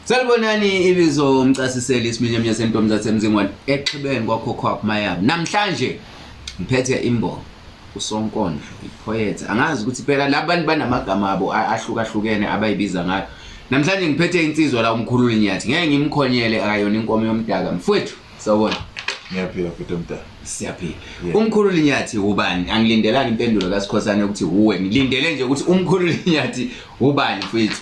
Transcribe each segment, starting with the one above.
Salibonani ibizo umcasiseli isiminyaminya sentombi zasemzingwane exhibeni kwakhokhwaph mayami namhlanje ngiphethe imbongo usonkondlo iphoyethe angazi ukuthi phela laba bantu banamagama abo ahlukahlukene abayibiza ngayo namhlanje ngiphethe insizwa la umkhululi nyathi ngeke ngimkhonyele akayona inkomo yomdaka mfwethu sawubona ngiyaphila futhi omdala siyaphila umkhululi nyathi ubani angilindelani impendulo kasikhosane ukuthi wuwe ngilindele nje ukuthi umkhululi nyathi ubani mfwethu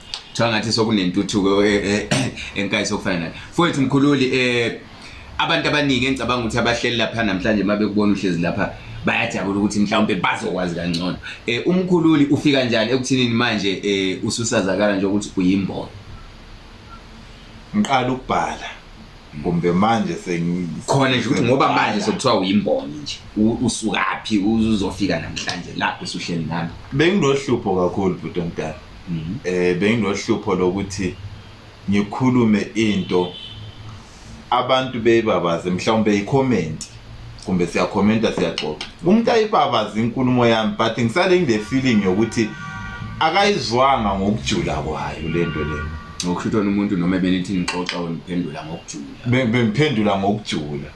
kuthiwa ngathi sokunentuthuko eh, eh, eh, enkayi sokufana nayo fowethu mkhululi um abantu abaningi engicabanga ukuthi abahleli lapha namhlanje uma bekubona uhlezi lapha bayajabula ukuthi mhlawumbe bazokwazi kangcono um umkhululi ufika njani ekuthinini manje um ususazakala nje ukuthi uyimbona ngiqala ukubhala kumbe manje sengikhona nje ukuthi ngoba manje sekuthiwa uyimboni nje usukaphi uzofika namhlanje lapho usuhleli nami benginohlupho kakhulu bhuti omdala um benginohlupho lokuthi ngikhulume into abantu beyibabaze mhlawumbe yikhomenti kumbe siyakhomenta siyaxoxa umuntu ayibabaze inkulumo yami but ngisale ngile feeling yokuthi akayizwanga ngokujula kwayo le nto leyo ngokushuthi wena umuntu noma ebenithi nixoxa weniphendula ngokujula bengiphendula ngokujula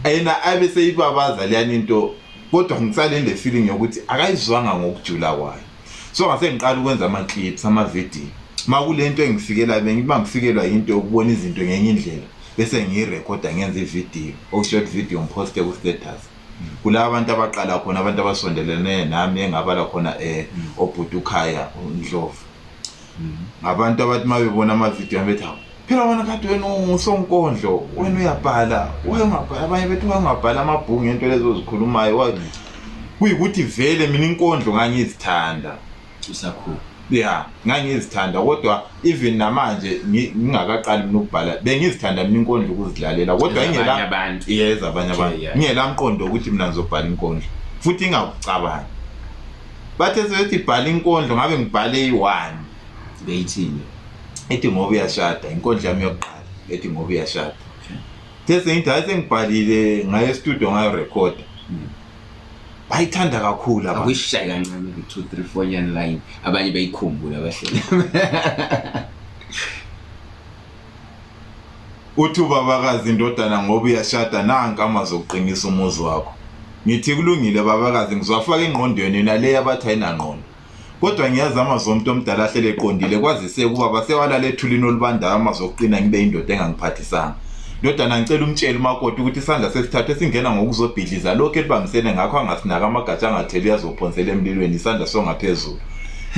yena abe seyibabaza leyani into kodwa ngisale ngile feeling yokuthi akayizwanga ngokujula kwayo so ngase ngiqala ukwenza ama-clips ama-video uma kule nto engifikelayo bengiba ngifikelwa yinto yokubona izinto ngenye indlela bese ngiyirekhoda ngenza ividiyo oku-short video ngiphoste ku-status kula abantu abaqala khona abantu abasondelene nami engabala khona um obhuti ukhaya ndlovu ngabantu abathi uma bebona amavidiyo bethi hawu phela wena kade wena ungusonkondlo wena uyabhala wayengabhala abanye bethi wayengabhala amabhuku ngento lezo zikhulumayo kuyikuthi vele mina inkondlo ngangizithanda usakhula ya ngangizithanda kodwa even namanje ngingakaqali mina ukubhala bengizithanda mina inkondlo ukuzilalela kodwa ingelaabanye abantu ngingelamqondo ukuthi mina ngizobhala inkondlo futhi ingakucabangi bathe sebethi bhala inkondlo ngabe ngibhale iyi-one beyithini ethi ngoba uyashada inkondlo yami yokuqala ethi ngoba uyashada the sengithi hayi sengibhalile ngaye estudio ngayo rekhoda bayithanda kakhulu abantu akuyishaye kancane ku-two three four nyani line abanye bayikhumbule abahleli uthi ubabakazi indodana ngoba uyashada nanka amazwi okuqinisa umuzi wakho ngithi kulungile babakazi ngizwafaka engqondweni yona le yabathi ayinangqondo kodwa ngiyazi amazwi omuntu omdala ahlele eqondile kwazise ukuba basewalala ethulini olubandayo amazwi okuqina ngibe indoda engangiphathisanga ndodana ngicela umtshele umakoti ukuthi isandla sesithathu esingena ngokuzobhidliza lokhu elibambisene ngakho angasinaka amagatsha angatheli uyazophonsela emlilweni isandla songaphezulu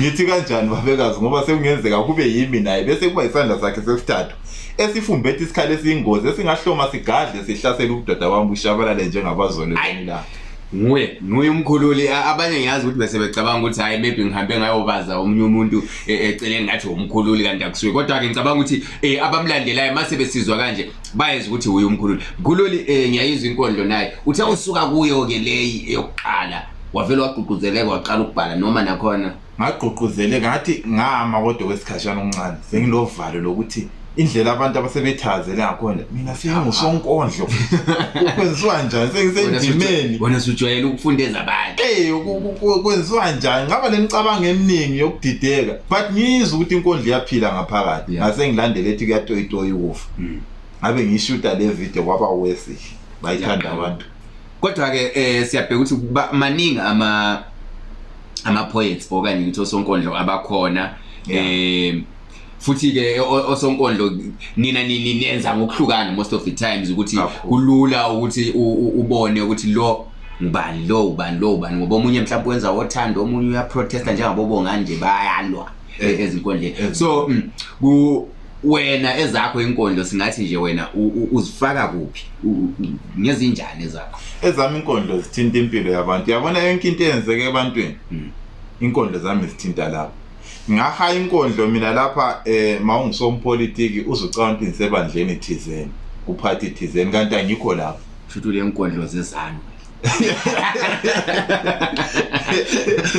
ngithi kanjani babekazi ngoba sekungenzeka kube yimi naye bese kuba isandla sakhe sesithathu esifumbethi isikhala esiyingozi esingahloma sigadle sihlasele ubudoda wami bushabalale njengabazole la nguye nguye umkhululi abanye ngiyazi ukuthi bese becabanga ukuthi hayi maybe ngihambe ngayobaza omunye umuntu e, eceleni ngathi umkhululi kanti akusuye kodwa-ke ngicabanga ukuthi um abamlandelayo mase besizwa kanje bayeza ukuthi uye umkhululi mkhululi um ngiyayizwa inkondlo naye uthe usuka kuyo-ke leyi yokuqala wavele wagqugquzeleka waqala ukubhala noma nakhona ngagqugquzele ngathi ngama kodwa kwesikhashana okuncane senginovalo lokuthi indlela abantu abasebethazele ngakhona mina sengingusonkondlo kwenziwa njani sengisendimeni wena sujwayele ukufundeza abantu ey kwenziwa njani ngaba nemicabango eminingi yokudideka but ngiyizwa ukuthi inkondlo iyaphila ngaphakathi ngase ngilandele ethi kuyatoyitoya ukufa hmm. ngabe ngiyishuta le video kwaba wesihle bayithanda abantu kodwa ke eh siyabheka ukuthi maningi ama ama poets okanye ukuthi osonkondlo abakhona eh futhi ke osonkondlo nina nini nenza ngokuhlukana most of the times ukuthi kulula ukuthi ubone ukuthi lo ngubani lo ubani lo ubani ngoba omunye mhlawumbe wenza othando omunye uyaprotesta njengabo bonganje bayalwa eh, ezinkondleni so mm, ku wena ezakho inkondlo singathi nje wena uzifaka kuphi ngezinjani ezakho ezami inkondlo zithinta impilo yabantu yabona yonke into eyenzeke ebantwini hmm. inkondlo zami zithinta lapho ngahaya inkondlo mina lapha eh mawungisompolitiki uzucabanga ukuthi ngisebandleni thizeni kuphathi thizeni kanti angikho lapho futhi le nkondlo zezanu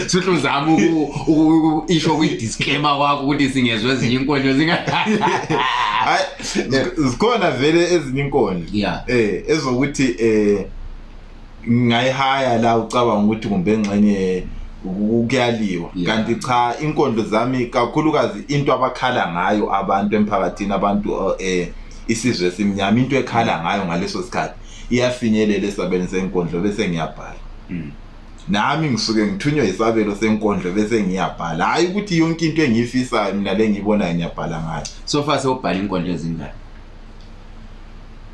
Suthi uzama uku isho kwi disclaimer kwakho ukuthi singezwe ezinye inkonzo zinga Hayi zikhona vele ezinye inkonzo. Eh ezokuthi eh ngayihaya la ucabanga ukuthi kumbe ngxenye kuyaliwa kanti cha inkondlo zami kakhulukazi into abakhala ngayo abantu emphakathini abantu eh isizwe simnyama into ekhala ngayo ngaleso sikhathi iyafinyelela esabelweni senkondlo bese ngiyabhala hmm. nami ngisuke ngithunywe isabelo senkondlo bese ngiyabhala hhayi ukuthi yonke into engiyifisayo mina le ngiyibonayo ngiyabhala ngayo so far sewubhala inkondlo ezingaki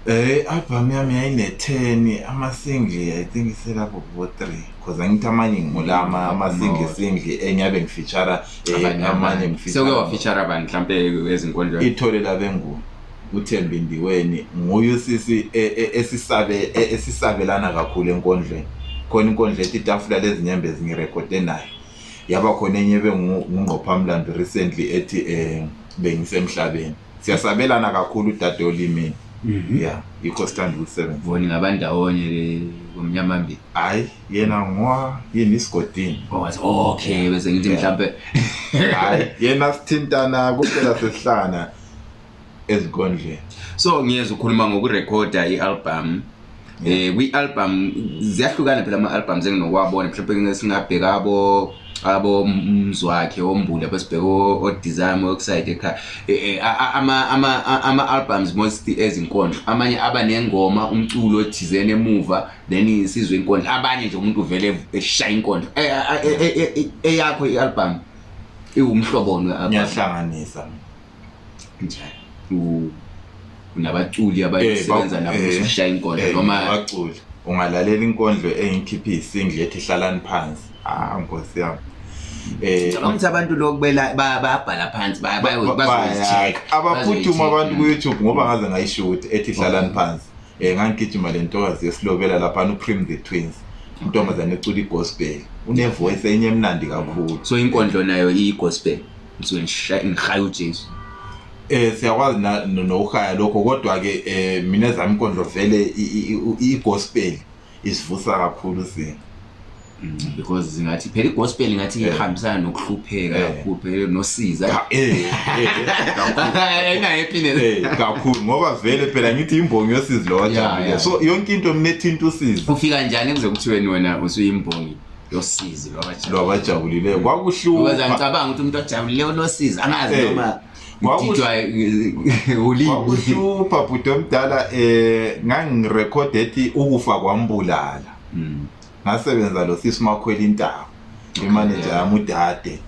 Eh album yami yayine-10 amasingle I think iselapho kubo-three cause angithi amanye ngimulama mm, amasingle single engiyabe ngifeature eh, amanye ngifeature. Sewuke wafeature abantu mhlampe ezinkondlweni. Ithole labengubo. uThembi Ndiweni nguye usisi e, e, esisabe e, esisabelana kakhulu enkondlweni khona inkondla ethi itafula lezinyembe zingirekhode nayo yaba khona enye bengungqophamlando recently ethi um bengisemhlabeni siyasabelana kakhulu udade olimini mhm. ya yikho sithanda ukusebenza boni ngabandawonye ke ngomnyama mbili hayi yena ngowa yini isigodini owathi oh, okay bese ngithi mhlawumbe hayi yena sithintana kuphela sesihlangana ezinkondleni so ngiyeza ukhuluma ngokurekhoda i-album Yeah. eh kwi-album ziyahlukana phela ama-albums enginowabona mhlawumbe ngeke singabheka abo abo mzwakhe ombuli abasibheka odizame okusayide ekhaya Eh, eh, a- a- ama- ama- a- ama-albums most ezinkondlo amanye aba nengoma umculo othizeni emuva then isizwe inkondlo abanye nje umuntu uvele eshaya inkondlo Eh, eh, eh, eh, eh, eyakho i-album iwumhloboni we-album ngiyahlanganisa njani u- unabaculi abayosebenza Eh, ba- nabo eh, usushaya inkondlo eh, noma abaculi ungalalela inkondlo engikhiphe isingle ethi hlalani phansi ah nkosi yami eh ngicabanga ukuthi abantu lokhu bela- ba- bayabhala phansi baya- bayo- ba- bazoyi-check, baya- abaphuthuma bazoyi-check. abantu ku-youtube ngoba ngaze ngayishuthi ethi hlalani phansi um ngangigijima le ntokazi yesilobela laphana ucream the twins intombazane ecula igospel unevoice enye emnandi kakhulu so inkondlo nayo iyi-gospel ngisuke ngisha- ngishaya ujesu Eh siyakwazi na- no- nokuhaya lokho kodwa ke eh mina ezami inkondlo vele i- i- i- i-gospel isivusa kakhulu sina. Mm, because zingathi phela igospel ngathi Yeah. ihambisana nokuhlupheka Yeah. kakhulu phela nosiza Cha, Eh eh kakhulu. ina happiness Eh kakhulu ngoba vele phela ngithi imbongi yosizi lo Yeah, wajabule. yeah. So yonke into mina ethinta usizi. ufika njani kuze kuthiweni wena usuyimbongi yosizi lwabajabulile lwabajabulileyo kwakuhlungu because angicabanga ukuthi umuntu ojabulile unosizi angazi eh, noma kwakuhlupha bhuti omdala um eh, ngangirekhode ethi ukufa kwambulala hmm. ngasebenza lo sisi umakhwela intaba imaneja yami udade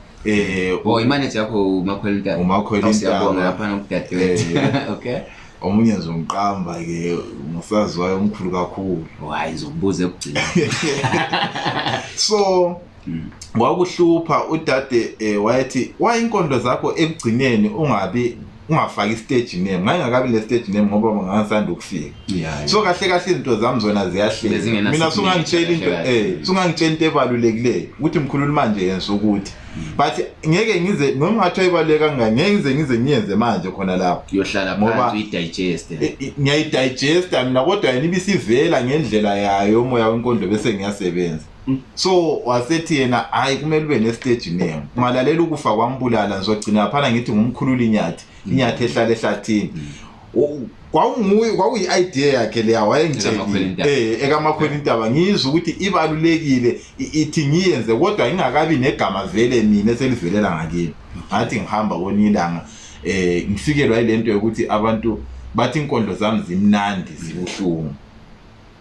um imaneja yakho umakhwela intaba umakhwela intaba lapha nokudadewethu okay omunye nje ungiqamba ke ngusaziwayo omkhulu kakhulu hayi zokubuza ekugcina so hmm. wakuhlupha udade eh, wayethi wayinkondlo zakho ekugcineni ungabi ungafaki stage name ngayingakabi le stage name ngoba ngangisanda ukufika so kahle kahle izinto zami zona ziyahleka mina sungangitshela into eh sungangitshela into ebalulekileyo ukuthi mkhululu manje yenza ukuthi but ngeke ngize noma ngathiwa ibaluleke kangani ngeke ngize ngize ngiyenze manje khona lapho uyohlala Ngoba- phansi uyidigeste I- i- ngiyayidigesta mina kodwa yena ibisivela ngendlela yayo umoya wenkondo bese ngiyasebenza Mm. so wasethi yena hayi kumele ube nestage name ungalalela ukufa kwambulala ngizogcina phana ngithi ngumkhululi inyathi inyathi ehlala ehlathini kwakunguye kwakuyi-idea yakhe leya wayengitshelile eh ekamakhwela intaba ngizwe ukuthi ibalulekile ithi ngiyenze kodwa ingakabi negama vele mina selivelela ngakini ngathi ngihamba kwenye ilanga eh ngifikelwa ilento yokuthi abantu bathi inkondlo zami zimnandi zibuhlungu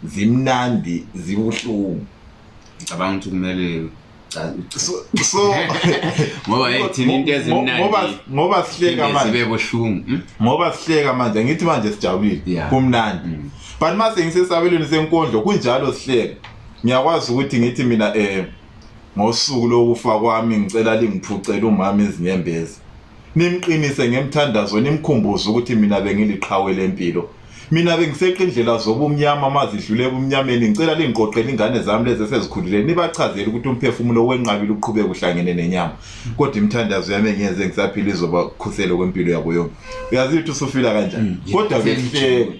zimnandi zibuhlungu ngicabanga ukuthi kumele so ngoba hey thina into ezimnandi ngoba ngoba sihleka manje sibe bohlungu hmm? ngoba sihleka manje ngithi manje sijabulile kumnandi hmm. but mase ngisesabelweni senkondlo kunjalo sihleka ngiyakwazi ukuthi ngithi mina eh ngosuku lokufa kwami ngicela lingiphucele umama izinyembezi nimqinise ngemthandazo nimkhumbuze ukuthi mina bengiliqhawe lempilo mina bengiseqa indlela zobumnyama mazidlule ebumnyameni ngicela lingiqoqele ingane zami lezi esezikhulile nibachazele ukuthi umphefumulo wenqabile uqhubeke uhlangene nenyama kodwa imithandazo yami engiyenze ngisaphila izobakhusela kwempilo yabo yonke uyazi ukuthi usufila kanjani mm, kodwa behleke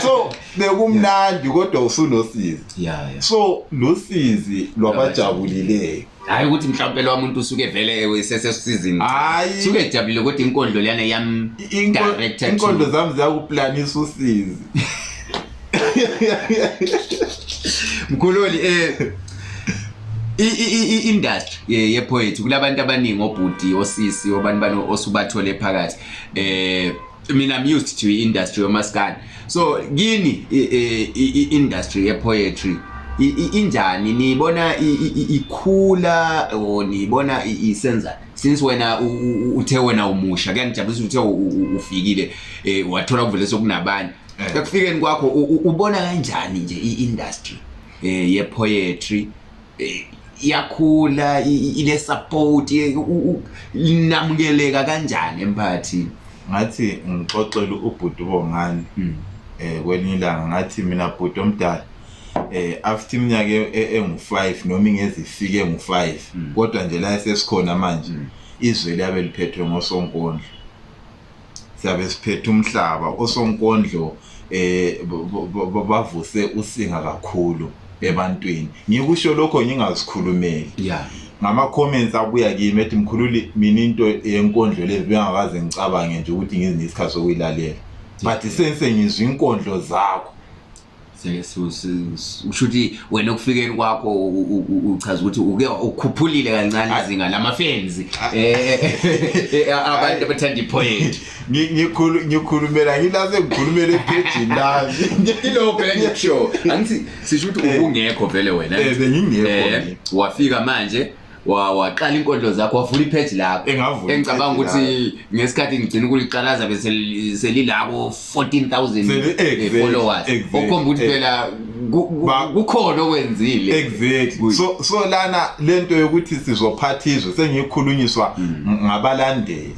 so bekumnandi kodwa usunosizi so lusizi lwabajabulileyo hayi ukuthi mhlawumpe lowa muntu usuke vele sesesizini hayi suke ejabulile ukuthi inkondlo leyana yam directed inkondlo zami ziyakuplanisa usizi mkhululi eh i-industry eh, yepoetry kulabantu abaningi obhuti osisi obani bani osubathole phakathi eh mina I'm used to industry yomaskandi so kini industry ye poetry injani niyibona ikhula or niyibona isenza since wena uthe wena umusha kuyangijabulisa uthe ufikile eh, wathola kuvele sokunabanye eh. ekufikeni kwakho ubona kanjani nje i-industry eh, ye poetry eh, iyakhula ile support linamukeleka kanjani emphakathini ngathi ngixoxele ubhuti ubongani hmm. eh kwelinye ilanga ngathi mina bhuti omdala eh after iminyaka e, e, engu5 noma ingezifike ngu5 hmm. kodwa nje la sesikhona manje hmm. izwe liyabe liphethwe ngosonkondlo siyabe siphethe umhlaba osonkondlo eh bavuse usinga kakhulu ebantwini ngikusho lokho ngingazikhulumeli yeah ngama-comments abuya kimi ethi mkhululi mina into yenkondlo lezi bengakaze ngicabange nje ukuthi ngizinye isikhathi sokuyilalela but sense ngizwa inkondlo zakho usho ukuthi wena okufikeni kwakho uchaza ukuthi uke ukhuphulile kancane izinga lamafenzi ah. eh, eh, eh, abantu abathanda ipoint ngikhulumela ngilase ngikhulumela epejini lami ngilokho phela ngikusho angithi sisho ukuthi ubungekho vele wena bengingekho wafika manje wa- waqala inkondlo zakho wavula ipheji lakho Engavula engicabanga ipage ukuthi ngesikhathi ngigcina ukuliqalaza bese li- selilako 14000 Seli- exactly, followers exactly, okhomba ukuthi exactly. phela ku- ku- Ba- kukhona okwenzile exactly Good. so so lana lento yokuthi sizophatha izwe sengikhulunyiswa Mm. ngabalandeli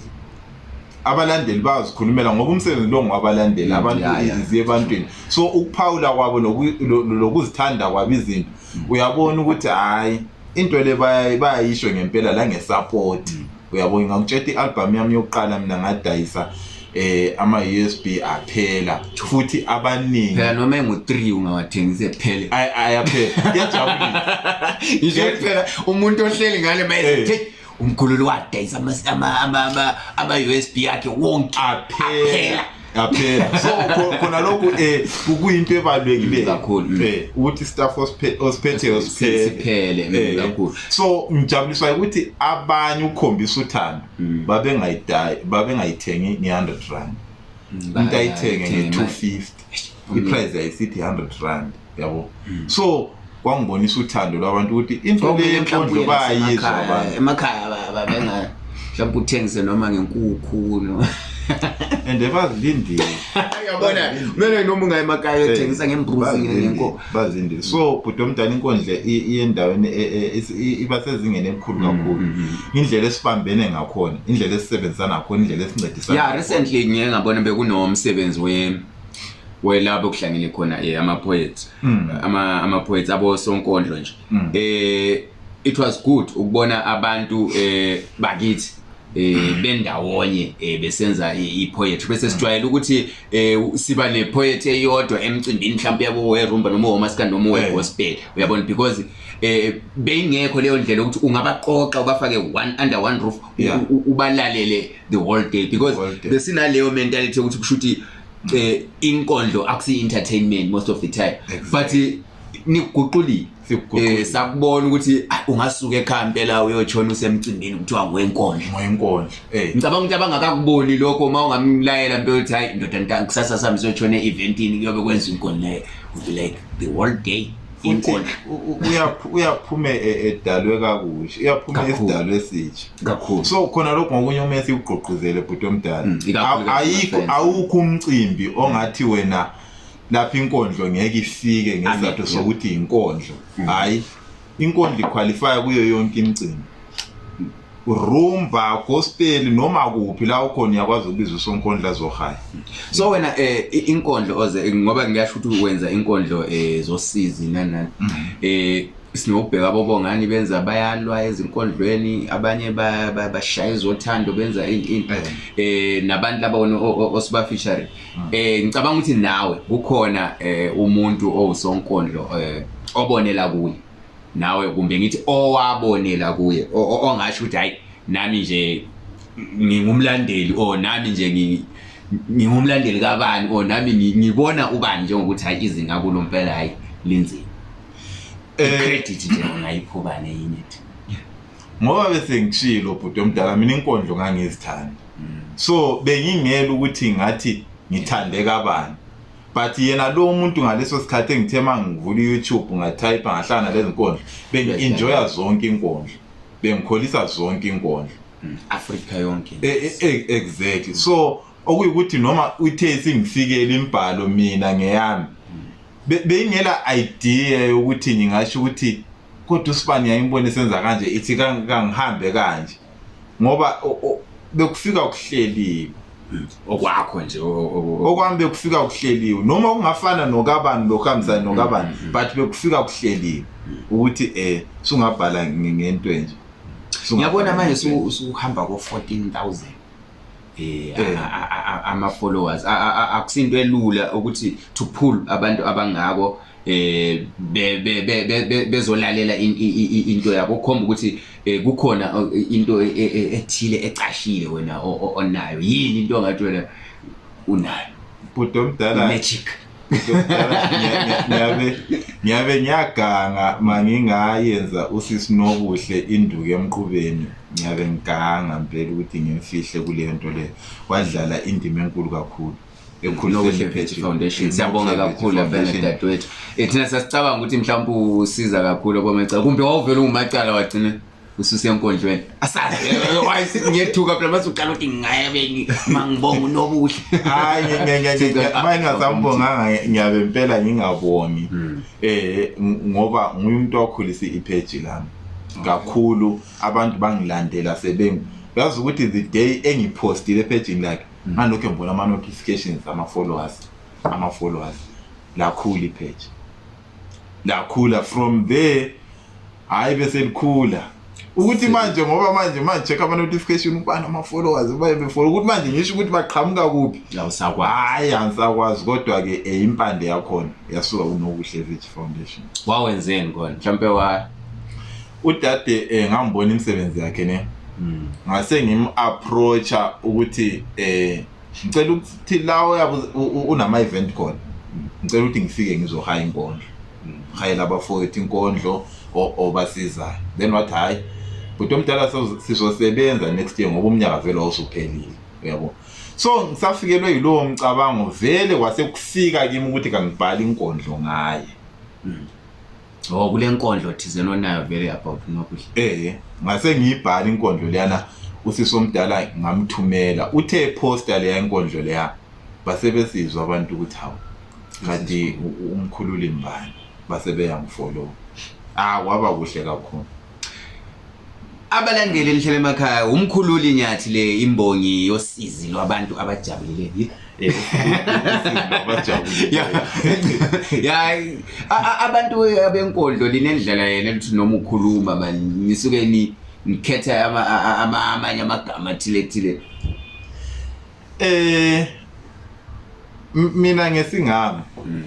abalandeli bayazikhulumela ngoba umsebenzi lo ngowabalandeli Mm, abantu yeah, yeah. iziye ebantwini so ukuphawula kwabo noku- lo- lo- lokuzithanda kwabo izinto uyabona ukuthi hhayi into le baya- bayayisho ngempela la ngesapoti Mm. uyabo ngakutsheta i-albhamu yami yokuqala mina ngadayisa eh ama-usb aphela futhi abaningi phela noma engu-three ungawathengisi ephele Ay- ayaphela kuyajabulisa ngisho ukuthi phela umuntu ohleli ngale Eh. mayethi umkhululi wadayisa ama-usb yakhe wonke aphela yaphela so khona lokhu um eh, kuyinto ebalulekile kakhulu um ukuthi istaff osiphetheyo siphele eh, kakhulu so ngijabuliswa ukuthi abanye ukukhombisa uthando mm. babengayithengi nge-hundred rand umuntu ayithenge nge-two fifty mm. iprice yayisithi 100 rand yabo mm. so kwangibonisa uthando lwabantu ukuthi into le yemfundlo bayizwa abantu emakhaya babengayo mhlawumbe uthengise noma ngenkukhu no and bazilindile yabona kumele noma ungayemakhaya uthengisa ngembuzi ngenkomo bazinde so bhuti omdala inkundla iyendaweni e, e, e, iba sezingeni elikhulu mm, kakhulu mm, mm. indlela esibambene ngakhona indlela esisebenzisana ngakhona indlela esincedisana ya recently ngike ngabona bekunomsebenzi we welabo kuhlangene khona eh ama poets ama ama poets abo sonkondlo nje eh it was good ukubona abantu eh bakithi eh bendawonye eh besenza ipoetry bese sijwayele ukuthi eh siba nepoet eyodwa emcimbini mhlawumbe yabo werumba noma womaskandi noma eh. wegospel uyabona because eh beyingekho leyo ndlela ukuthi ungabaqoqa ubafake one under one roof ubalalele the whole day because besinaleyo mentality ukuthi kushuthi eh inkondlo akusi entertainment most of the time exactly. but niguqulile eh sakubona ukuthi ah, ungasuka ekhaya impela uyotshona usemcimbini kuthiwa wenkondla wenkondla eh ngicabanga ukuthi abangakakuboni lokho uma ungamlayela impela ukuthi hayi ndoda ntangi kusasa sami siyotshona eventini kuyobe kwenza inkondla eh, would be like the whole day inkondla uyaphume e, edalwe kakuhle uyaphume esidalwe esitsha kakhulu so khona lokho ngokunye uma esiwugqogquzele bhuti omdala mm, ayikho awukho umcimbi ongathi wena lapho inkondlo ngeke ifike ngesizathu sokuthi inkondlo mm. hayi inkondlo iqualifya kuyo yonke imicimbi rumba gospel noma kuphi la ukhona uyakwazi ukubiza usonkondla zohaya so wena eh inkondlo oze ngoba ngiyasho ukuthi wenza inkondlo eh zosizi nanani mm-hmm. eh sinokubheka abobongani benza bayalwa ezinkondlweni abanye bashaya izothando benza into eh. eh nabantu laba osibafishare Hmm. Eh ngicabanga ukuthi nawe kukhona eh umuntu owusonkondlo eh obonela kuye. Nawe kumbe ngithi owabonela kuye ongasho ukuthi hayi nami nje ngingumlandeli or nami nje ngi ngingumlandeli kabani or nami ngibona ubani njengokuthi hayi izinga kulo mpela hayi linzima. Eh credit nje ngayiphobane yini? Ngoba bese ngishilo bhuti omdala mina inkondlo ngangizithanda. so bengingela ukuthi ngathi ngithande kabani but yena lo muntu ngaleso sikhathi engithe uma ngivula i-youtube ngathayipha ngahlala nalezi nkondlo bengi-enjoya zonke inkondlo bengikholisa zonke inkondlo mm, afrika yonke e, e, e, exactly so okuyukuthi noma uthe singifikele imbhalo mina ngeyami beyingela idea yokuthi ngingasho ukuthi kodwa usibani yayimbona isenza kanje ithi kangihambe kanje ngoba bekufika ukuhleliwe hmm. okwakho nje okwami bekufika ukuhleliwe noma kungafana nokabani lokho hambisana hmm. nokabani hmm. but bekufika ukuhleliwe ukuthi eh sungabhala ngento enje ngiyabona manje usuhamba ko 14000 eh, eh. ama followers akusinto elula ukuthi to pull abantu abangako eh bezolalela into yabo ukhomba ukuthi eh, kukhona oh, into e, e, e, ethile ecashile wena onayo yini into ongathi wena unayo bhuti omdala magic ngiyabe ngiyaganga mangingayenza usisi nobuhle induku emqubeni ngiyabe ngiganga ngempela ukuthi ngimfihle kuleyo nto leyo wadlala indima enkulu kakhulu siyabonga kakhulu vele dadewethu eh, thina sasicabanga ukuthi mhlawumbe usiza kakhulu komacala kumbe wawuvele ungumacala wagcina ususiya enkonjweni asazi wayethi ngiyethuka phela mase uqala ukuthi ngingayebeki mangibonga unobuhle hayi ngingasambonganga ngiyabe impela ngingabongi hmm. eh ngoba nguyumuntu okhulisa ipage lami kakhulu abantu bangilandela sebengu yazi ukuthi the day engipostile epejini lakhe hmm. ngalokho ngibona ama notifications ama followers ama followers lakhulu ipage lakhula from there hayi bese likhula ukuthi manje ngoba manje manje check ama notification ubani ama followers baye befollow ukuthi manje ngisho ukuthi baqhamuka kuphi awusakwazi hayi angisakwazi kodwa ke eh, impande yakhona yasuka kunokuhle village foundation wawenzeni kona mhlambe wa udade eh, ngambona imisebenzi yakhe ne hmm. ngase ngim approacha ukuthi eh ngicela ukuthi lawo unama event khona hmm. ngicela ukuthi ngifike ngizohaya inkondlo ngihayela abafowethu inkondlo obasizayo then wathi hhayi bhuti omdala sizosebenza next year ngoba umnyaka vele wawusuphelile uyabo so ngisafikelwe yilowo mcabango vele kwase kufika kimi ukuthi kangibhali inkondlo ngaye hmm. oh kule nkondlo thizeni onayo vele about nokudla eh ngase ngiyibhala inkondlo leyana usisi omdala ngamthumela uthe poster leya inkondlo leya base besizwa abantu ukuthi hawu kanti umkhululi mbani base beyamfollow ah waba kuhle kakhulu abalandeli lihlele emakhaya umkhululi nyathi le imbongi yosizi lwabantu abajabulile eh, ya abantu abenkodlo linendlela yena ukuthi noma ukhuluma mani nisuke ni ngikhetha amanye amagama athile thile Eh mina ngesingami mm.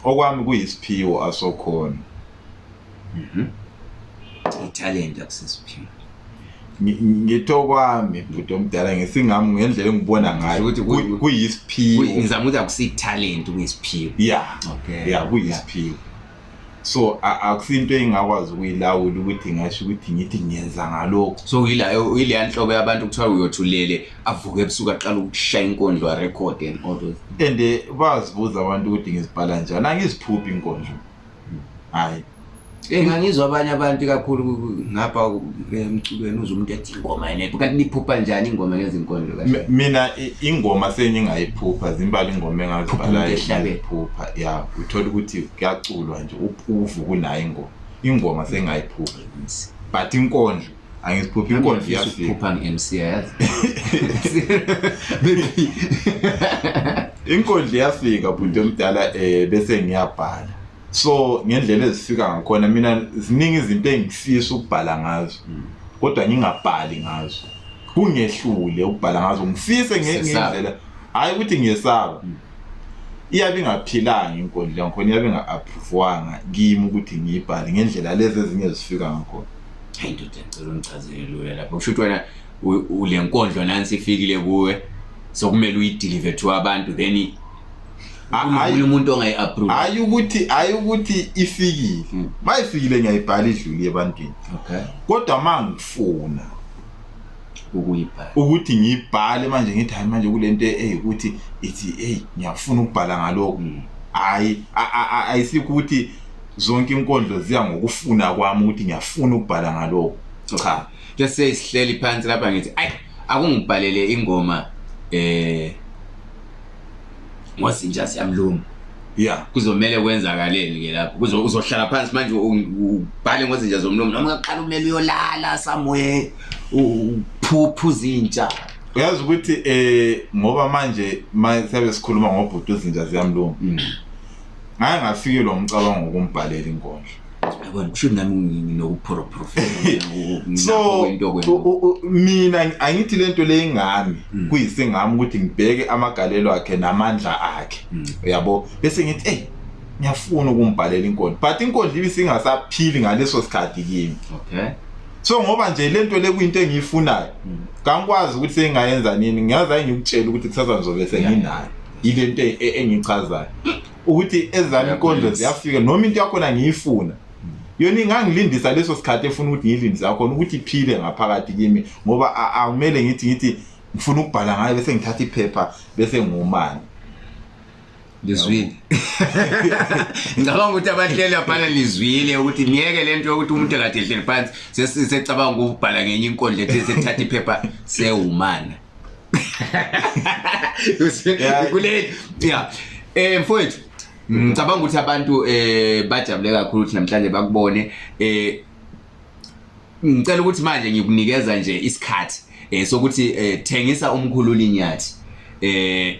okwami kuyisiphiwo asokhona. Mhm. Italent akusisiphiwo. ngitho kwami bhuti omdala ngesingami ngendlela engibona ngayo ukuthi kuyisiphiwo ngizama ukuthi akusithalent kuyisiphiwo yeah okay yeah kuyisiphiwo so akusinto engingakwazi ukuyilawula ukuthi ngasho ukuthi ngithi ngiyenza ngalokho so yileya nhlobo yabantu kuthiwa uyothulele avuke ebusuku aqala ukushaya inkondlo arecord and all those and eh, bazibuza abantu ukuthi ngizibhala njani angiziphuphi inkondlo hhayi engangizwa abanye abantu kakhulu ngapha emculweni uze umuntu ethi ingoma enephu kanti niphupha njani ingoma ngezinkondlo kahle M- mina i- ingoma sengingayiphupha zimbala ingoma engazibhala Phupha ngehlabe. engiyiphupha ya uthola ukuthi kuyaculwa nje uphuvu kunayo ingoma ingoma sengingayiphupha but inkondlo angiziphuphi inkondlo iyafika iphupha nge-mc yazi inkondlo iyafika bhuti omdala um bese ngiyabhala so ngendlela ezifika ngakhona mina ziningi izinto engifisa ukubhala ngazo mm. kodwa ngingabhali ngazo kungehlule ukubhala ngazo ngifise ngendlela hayi ukuthi ngiyesaba mm. iyabe ingaphilanga inkundla ngakhona iyabe inga-appruvwanga kimi ukuthi ngiyibhale ngendlela lezi ezinye zifika ngakhona hayi ndoda ngicela ungichazele lula lapho kusho ukuthi wena ule nkondlo nansi ifikile kuwe sokumele uyidilive to abantu then hayi umuntu ongayi-approve hayi ukuthi hayi ukuthi ifikile hmm. uma ifikile ngiyayibhala idluli ebantwini okay kodwa uma ngifuna ukuyibhala ukuthi ngiyibhale manje ngithi hayi manje kule nto eyi ukuthi ithi eyi ngiyafuna ukubhala ngalokho hmm. hayi ayisikho ukuthi zonke inkondlo ziya ngokufuna kwami ukuthi ngiyafuna ukubhala ngalokho cha just say sihleli phansi lapha ngithi ayi akungibhalele ingoma eh ngozinja siyamluma ya kuzomele kwenzakaleni ke lapho kuzo uzohlala phansi manje ubhale ngozinja zomlomo noma uqala umele uyolala somewhere uphuphu zinja uyazi ukuthi eh ngoba manje mayisabe sikhuluma ngobhuti uzinja ziyamlunga mm. ngaye ngafikile umcabango ukumbhalela inkondlo yabona kusho nami nginokuphorophorofela so mina angithi lento le ingami hmm. kuyisingami ukuthi ngibheke amagalelo akhe namandla akhe hmm. uyabo bese ngithi hey ngiyafuna ukumbhalela inkondlo but inkondlo ibe singasaphili ngaleso sikhathi kimi okay so ngoba nje lento le kuyinto engiyifunayo hmm. kangikwazi ukuthi sengayenza nini ngiyazi ayengikutshela ukuthi kusasa ngizobe senginayo ilento e-, engichazayo ukuthi ezami inkondlo ziyafika noma into yakhona ngiyifuna yona ingangilindisa leso sikhathi efuna ukuthi ngiyilindise yakhona ukuthi iphile ngaphakathi kimi ngoba akumele ngithi ngithi ngifuna ukubhala ngayo bese ngithatha iphepha bese ngumani lizwile ngicabanga ukuthi abahleli abhala lizwile ukuthi niyeke le nto yokuthi umuntu akade ehleli phansi sesicabanga ukubhala ngenye inkondlo ethi sethatha iphepha sewumana kuleli ya eh mfowethu ngicabanga ukuthi abantu eh bajabule kakhulu ukuthi namhlanje bakubone eh ngicela ukuthi manje ngikunikeza nje isikhathi eh sokuthi eh, thengisa umkhululi nyathi eh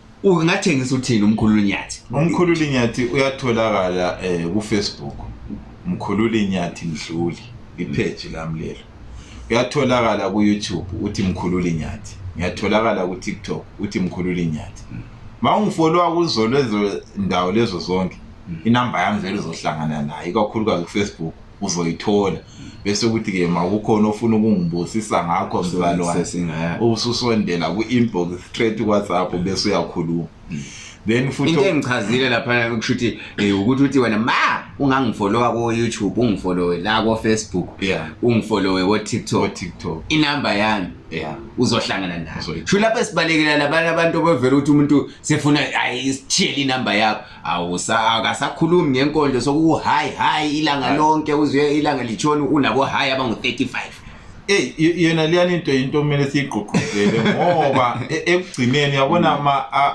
ungathengisa uthini umkhululi nyathi umkhululi nyathi uyatholakala eh ku Facebook mkhululi nyathi mdluli ipage lami lelo uyatholakala ku YouTube uthi mkhululi nyathi ngiyatholakala ku TikTok uthi mkhululi nyathi mawungifollowa kuzo lezo ndawo lezo zonke inamba yami vele uzohlangana nayo ikakhulukazi ku Facebook uzoyithola bese ukuthi ke makukhona ofuna ukungibusisa ngakho mzalwane ususondela ku-inbox straight whatsapp bese uyakhuluma mm. then futhi into engichazile lapha kusho ukuthi eh, ukuthi uthi wena ma ungangifolowa ko YouTube ungifolowe la ko Facebook yeah ungifolowe ko TikTok ko TikTok inamba yami yeah uzohlangana nayo sho lapha sibalekela labantu abantu bevela ukuthi umuntu sefuna ayisithiyele inamba yakho awusakhulumi ngenkondlo sokuhayi hayi ilanga lonke uzuye ilanga litshoni unabo hayi abangu-35 Ey yena liyani into into kumele siyigqugquzele ngoba e, ekugcineni yabona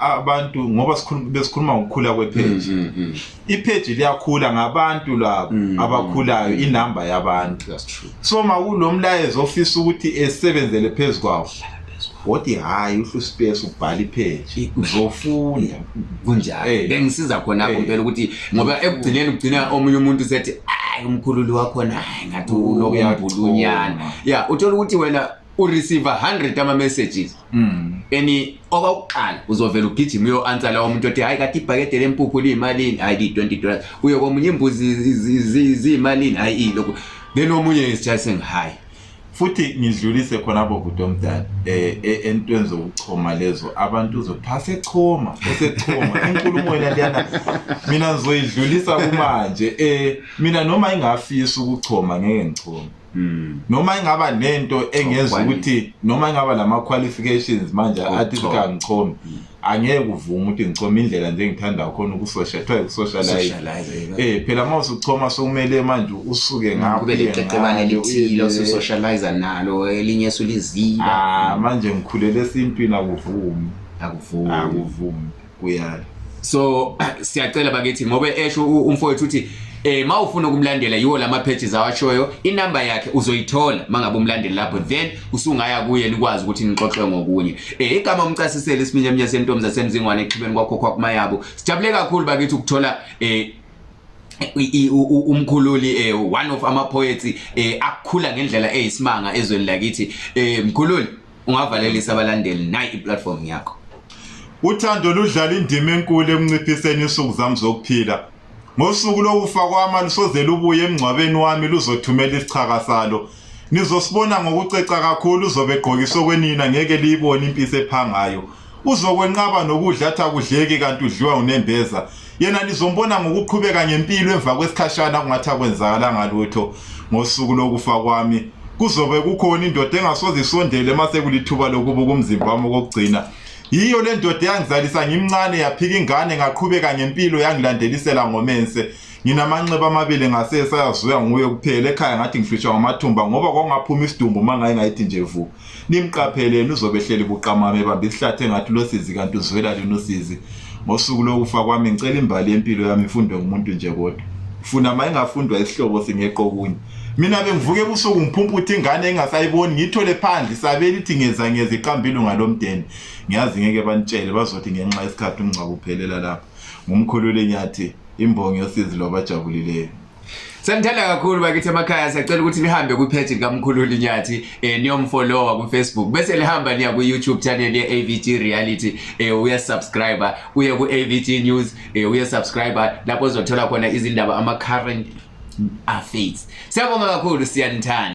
abantu ngoba sikhuluma besikhuluma ngokukhula kwepage. Mm, mm, mm. Ipage liyakhula ngabantu labo abakhulayo inamba yabantu. That's true. Soma kulo mlayezo ofisa ukuthi esebenzele phezu kwawo woti hhayi uhlu space ubhala ipheji uzofunda kunjalo Eh. bengisiza khona-ko Eh. mpela ukuthi ngoba ekugcineni ugcina omunye umuntu sethi ayi umkhululi wakhona hayi ngathi Uyathola. unokumbulunyana ya uthola ukuthi wena u receive 100 ama messages mm. eni okokuqala uzovela ugijima uyo answer lawo umuntu othi hayi kati ibhakede lempuphu liyimalini hayi li 20 dollars uyo komunye imbuzi ziyimalini hayi lokho then omunye is just saying hayi futhi ngidlulise khona abo bhuti omdala eh, eh entweni zokuchoma lezo abantu uzophasa echoma usechoma inkulumo yena liyana mina ngizoyidlulisa kumanje eh mina noma ingafisa ukuchoma ngeke ngichome Mm. noma ingaba nento engenza ukuthi noma ingaba lama qualifications manje athi sika ngichome mm. angeke kuvuma ukuthi ngichome indlela nje ngithanda khona ukusosha kuthiwa ukusocialize eh phela uma usuchoma sokumele manje usuke mm, ngapho kube liqeqebane elithile ususocialize nalo elinye esuliziba ah manje ngikhulele esintwini akuvumi akuvumi akuvumi uyala so siyacela bakithi ngoba esho umfowethu uthi eh mawufuna ukumlandela yiwo lama pages awashoyo inamba yakhe uzoyithola mangabe umlandela lapho then usungaya kuye nikwazi ukuthi nixoxe ngokunye eh igama umcasisele isiminye eminye sentombi zasemzingwane exhibeni kwakho kwakuma yabo sijabule kakhulu bakithi ukuthola eh umkhululi eh one of ama poets eh akukhula ngendlela eyisimanga ezweni lakithi eh mkhululi ungavalelisa abalandeli nayi iplatform yakho uthando ludlala indima enkulu ekunciphiseni insuku zami zokuphila ngosuku lokufa kwami lusoze lubuye emngcwabeni wami luzothumela isichaka salo nizosibona ngokuceca kakhulu uzobe egqokiswe kwenina ngeke liyibone impisi ephangayo uzokwenqaba nokudla athi akudleki kanti udliwa unembeza yena nizombona ngokuqhubeka ngempilo emva kwesikhashana kungathi akwenzakalanga lutho ngosuku lokufa kwami kuzobe kukhona indoda engasoze isondele uma sekulithuba lokubuka umzimba wami okokugcina yiyo le ndoda eyangizalisa ngimncane yaphika ingane ngaqhubeka ngempilo yangilandelisela ngomense nginamanxeba amabili ngasese ayazuya nguye kuphela ekhaya ngathi ngihlutshwa ngamathumba ngoba kwakungaphuma isidumbu uma ngaye ngayithi nje vu Nimqapheleni uzobe ehleli buqamama ebambe isihlathi engathi losizi kanti uzwela lini usizi. Ngosuku lokufa kwami ngicela imbali yempilo yami ifundwe ngumuntu nje kodwa. Funa uma ingafundwa isihlobo singeqo okunye. Mina bengivuke ebusuku ngiphumputhe ingane engasayiboni ngithole phandle isabeli ithi ngeza ngeza iqambile ngalomdeni. Ngiyazi ngeke banitshele bazothi ngenxa yesikhathi umngcwabo uphelela lapha. Ngumkhulule nyathi imbongi yosizi lwabajabulileyo. Sanithanda kakhulu bakithi emakhaya siyacela ukuthi nihambe ku page likamkhulu Linyathi eh niyomfollowa ku Facebook bese lihamba niya ku YouTube channel ye AVG Reality eh uya subscriber uye ku AVG News eh uya subscriber lapho uzothola khona izindaba ama current affairs. Siyabonga kakhulu siyanithanda.